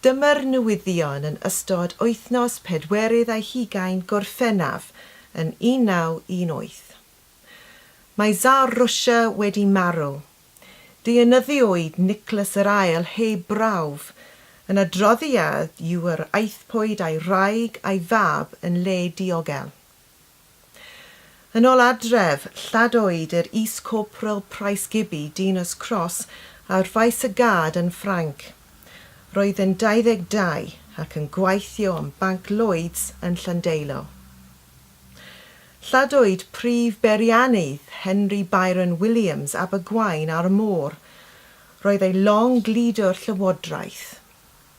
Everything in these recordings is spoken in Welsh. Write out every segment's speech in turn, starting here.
Dyma'r newyddion yn ystod wythnos pedwerydd ar hugain Gorffennaf yn 1918. Mae Tsar Rwsia wedi marw. Deunyddiwyd Nicholas yr Ail heb brawf. Yn adroddiad yw yr aethpwyd a'i wraig a'i fab yn le diogel. Yn ol adref, lladoed yr Is-Corporal Price Gibby Dinas Cross a rfais y gad yn Ffrainc. Roedd yn 22 ac yn gwaithio yn Banc Lloyds yn Llandeilo. Lladoed prif beiriannydd Henry Byron Williams Abergwaun ar y Môr. Roedd ei long gludo Llywodraeth.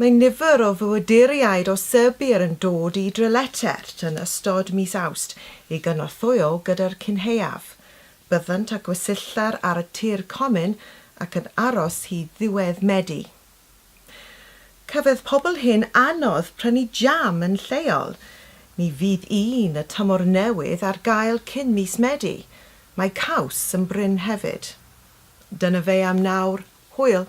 Mae nifer o fywyduriaid o Serbia yn dod i Dreletert yn ystod mis Awst i gynorthwyo gyda'r cynhaeaf. Byddant â gwesylltar ar y tir comin ac yn aros hyd ddiwedd Medi. Cafodd pobl hŷn anodd prynu jam yn lleol. Ni fydd un y tymor newydd ar gael cyn mis Medi. Mae caws yn brin hefyd. Dyna fe am nawr. Hwyl!